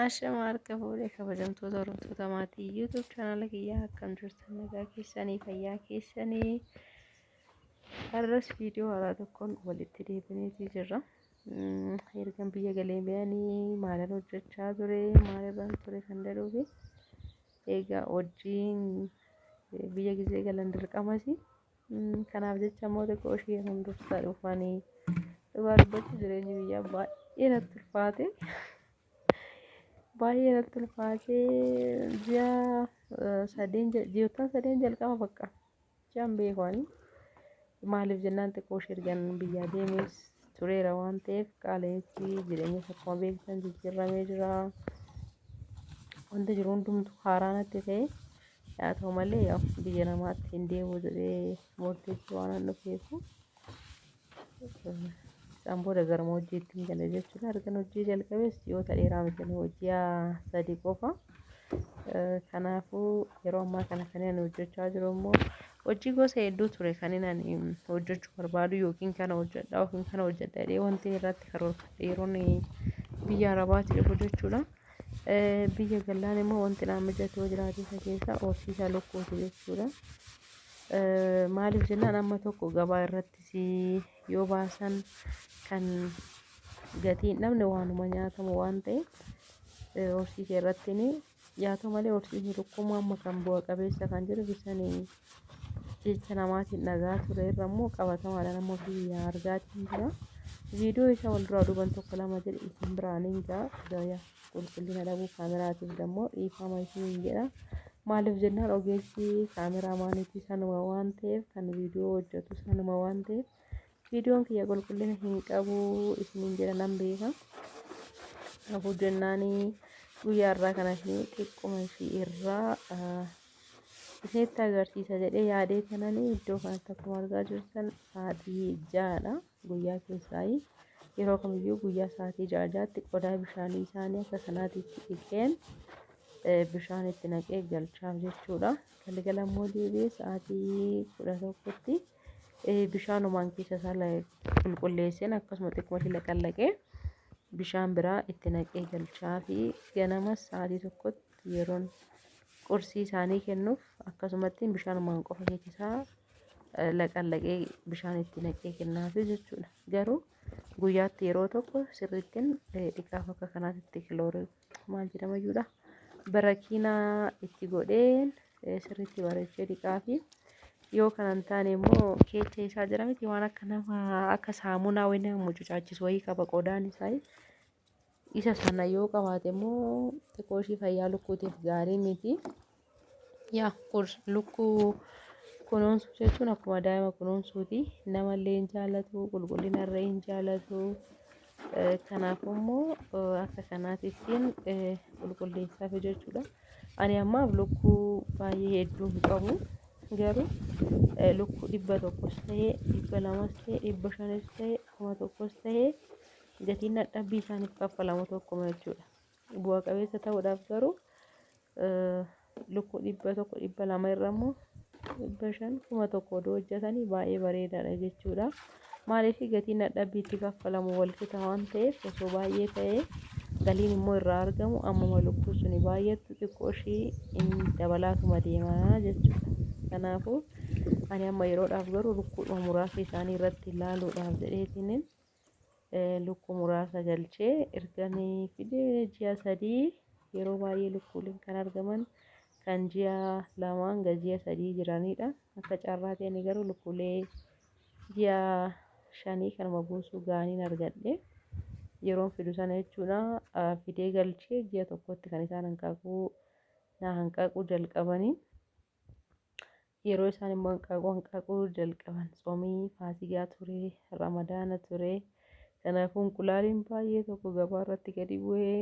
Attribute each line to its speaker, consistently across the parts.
Speaker 1: Ashama harka fuudhee kabajamtoota hordoftoota maatii YouTube chaanaala kiyyaa akkam jirtan nagaa keessanii fayyaa keessanii Har'as viidiyoo haaraa tokkoon walitti deebineetii jirra. Ergan biyya galee biyanii maalan hojjechaa ture, maalirraan ture kan jedhuu fi egaa hojiin biyya gisee galan dirqamasi. Kanaaf jecha immoo xiqqoo ishee hundursaa dhufanii dhugaa dubbachuu jireenyi biyyaa baay'ee natti ulfaate. Baay'ee natti ulfaate ji'a sadeen ji'oottan sadeen jalqaba bakka. jechaan beeku ani. Maaliif jennaan xiqqoo shirgan biyyaa deemees tureera waan ta'eef qaala'insi jireenya akkuma beektan jijjiirramee jira. Wanti jiru hundumtu haaraa natti ta'e. Haa ta'u malee biyya namaatti hin deemu jedhee murteessu waan hin dhufeefu. Isaan booda gara hojjeetti hin gale jechuudha. Ergan hojii jalqabees ji'oota dheeraa miti nu ji'a sadii qofa. Kanaafuu yeroo ammaa kana kan ani hojjechaa jiru immoo hojii gosa hedduu ture kan inni ani hojjechuu barbaadu yookiin kana hojjedha yookiin kana hojjedha jedhee wanti irratti karoorfadhe yeroon biyya Arabaatti dhufu jechuudha. Biyya galaan immoo wanti naan mijatu yoo jiraate isa keessaa horsiisa lukkuuti jechuudha. Maaliif jennaan amma tokko gabaa irratti si yoo baasan kan gatii hin dhabne waanuma nyaatamu waan ta'eef eh, horsii kee irratti ni yaatoo malee horsiisni tokkummoo amma kan bu'a qabeessa kan jiru bisanii jecha namaatiin dhagaa ture irra immoo qabatamaadhaan amma biyya argaatiin jira. Viidiyoo isa wal duraa duuban tokko lama jedhe isin biraan hin ga'a. Gaayaa. qulqullina dhabuu kaameraatiif dammoo dhiifama isiniin jedha. Maaliif jennaan ogeessi kaameraa maaniitii sanuma waan ta'eef kan viidiyoo hojjetu sanuma waan ta'eef viidiyoon kiyya qulqullina hin qabu isiniin jedha nan beeka. Kanaafuu jennaan guyyaa irraa kana ishee xiqquma ishee irraa isinitti agarsiisa jedhee yaadee kanan iddoo kanatti akkuma argaa jirtan sa'aatii ja'adha. Guyyaa keessaayi yeroo kamiyyuu guyyaa sa'aatii ja'a jaatti qodaa bishaanii isaanii akka sanaatiitti dhiqeen bishaan itti naqee galchaaf jechuudha. Galgala immoo deebi'ee sa'aatii kudha tokkotti bishaanumaan keessa isaa qulqulleesseen akkasuma xiqqoo ishee laqallaqee bishaan biraa itti naqee galchaa fi ganamas sa'aatii tokkotti yeroon qursii isaanii kennuuf akkasumatti bishaanumaan qofa keessa isaa laqallaqee bishaan itti naqee kennaafi jechuudha. Garuu guyyaatti yeroo tokko sirriittiin dhiqaa bakka kanaatti kiloorii maal jedhama jechuudha. Barakiinaa itti godheen sirriitti bareechee dhiqaafi. Yoo kana hin taane immoo keecha isaa jira miti waan akka nama akka saamunaa wayii nama mucucaachisu wayii qaba qodaan isaa. Isa sana yoo qabaate immoo xiqqoo ishii fayyaa lukkuutiif gaarii miti. Yaa kun lukkuu kunuunsuu jechuun akkuma daa'ima kunuunsuuti. Namallee hin jaalatu, qulqullina irra hin jaalatu. Eh, Kanaafuu immoo eh, akka kanaati ittiin eh, qulqulleessaaf jechuudha. Ani ammaaf lukkuu baay'ee hedduu hin qabu. Garuu eh, lukkuu dhibba tokkos ta'ee, dhibba lamas ta'ee, dhibba shanis ta'ee, kuma tokkos ta'ee Gatiin dadhabbii isaaniif kaffalamu tokkuma jechuudha. Bu'a qabeessa ta'uudhaaf garuu lukkuu dhibba tokko dhibba lama irra immoo dhibba shan kuma tokko oduu hojjetanii baay'ee bareedaadha jechuudha. Maaliif gatiin dadhabbii itti kaffalamu wal qixa waan ta'eef osoo baay'ee ta'ee galiin immoo irraa argamu ammuma lukkuu suni baay'attu xiqqoo ishii in dabalaatuma deema jechuudha. Kanaafuu ani amma yeroodhaaf garuu lukkuudhuma muraasa isaanii irratti ilaaluudhaaf jedheetiniin lukkuu muraasa galchee ergani fide ji'a sadii yeroo baay'ee lukkuuleen kan argaman kan ji'a lamaa hanga ji'a sadii jiranidha. Akka carraa ta'een garuu lukkuulee ji'a shanii kanuma buusuu ga'aniin argadhe. Yeroon fidu sana jechuudha fidee galchee ji'a tokkotti kan isaan hanqaaquu na hanqaaquu jalqabanii. Yeroo isaan immoo hanqaaquu hanqaaquu jalqaban tsoomii faasigaa ture, ramadaana ture. Kanaafuu inqulaaliin baay'ee tokko gabaa irratti gadi bu'ee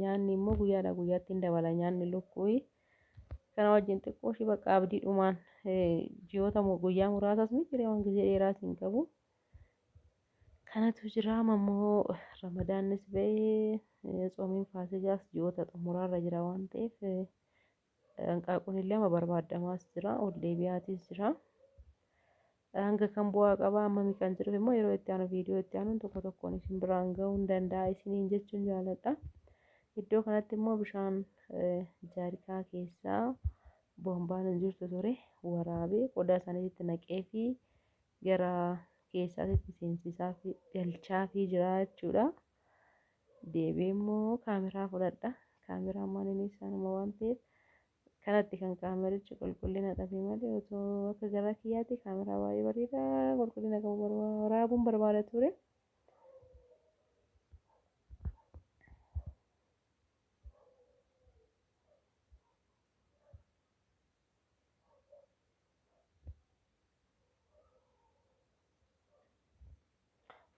Speaker 1: nyaanni immoo guyyaadhaa guyyaatti hin dabala nyaanni lukkuuyi. Kana wajjin xiqqoo ishii bakka abdiidhumaan ji'oota guyyaa muraasas ni jira waan gizee dheeraas hin qabu. Kanatu jira amma immoo ramadaannis ba'ee tsoomiin faasigaas ji'oota xumuraarra jira waan ta'eef Hanqaaquun illee amma barbaadamaas jira, ol deebi'aatiis jira. Hanga kan bu'aa qabaa ammami kan jedhuuf immoo yeroo itti aanu viidiyoo itti aanuun tokko tokkoon isin biraan ga'uu hin danda'a isiniin jechuun jaaladha. Iddoo kanatti immoo bishaan jaarikaa keessaa boombaan hin jirtu ture waraabee qodaa isaaniitti naqee fi gara keessaatitti seensisaa fi galchaa fi jira jechuudha. deebi'ee immoo kaameraa fudhadha. Kaameraammaan inni isaanuma waan ta'eef kanatti kan kaamerichi qulqullina dhabe malee otoo akka garaa kiyyaatti kaameraa baay'ee bareedaa qulqullina qabu barba- waraabuun barbaada ture.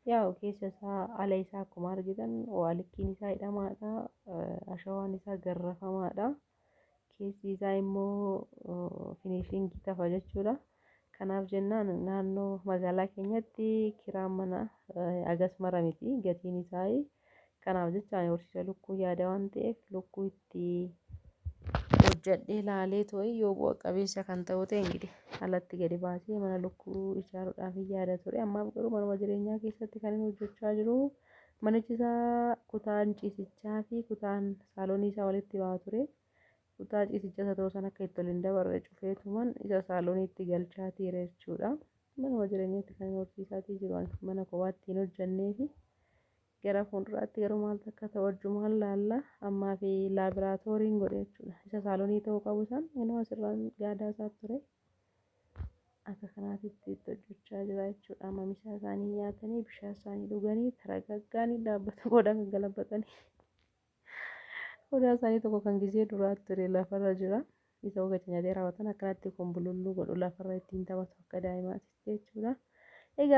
Speaker 1: Yaa'u keessa isaa ala isaa akkuma argitan waalikkiin isaa hidhamaadha. Ashawaan isaa garrafamaadha. Keessi isaa immoo finishiingii tafa jechuudha. Kanaaf jennaan naannoo magaalaa keenyatti kiraan mana agas mara miti gatiin isaa Kanaaf jecha ani horsiisa lukkuu yaada waan ta'eef lukkuu itti hojjadhee laalee too'ee yoo bu'a qabeessa kan ta'u ta'e ingiidi alatti gadi baasee mana lukkuu ijaaruudhaaf yaada ture. Ammaaf garuu manuma jireenyaa keessatti kan inni hojjechaa jiru manichi isaa kutaan ciisichaa fi kutaan saaloonii isaa walitti ba'a ture. Kutaa ciisicha isa ta'uu sana akka itti ol hin dabarre cufeetuman isa saalooniitti galchaa tiire jechuudha. Manuma jireenyatti kan horsiisaatii jiru ani mana kophaatti hin hojjanneefi gara fuulduraatti garuu maaltu akka ta'u wajjumaan laalla ammaa fi laabiraatooriin godhe jechuudha. Isa saaloonii ta'uu qabu san inuu asirraan gaadaa isaa ture. Akka kanaatitti itti hojjechaa jira jechuudha. Amma misaa isaanii nyaatanii bishaan isaanii dhuganii taragaggaanii dhaabbata booda akka galabatanii. Odaa isaanii tokko kan gizee duraa ture lafarra jira. Isa ogacha nyaatee raawwatan akkanatti konbululluu godhu lafarra ittiin taphatu akka daa'imaatitti jechuudha. Egaa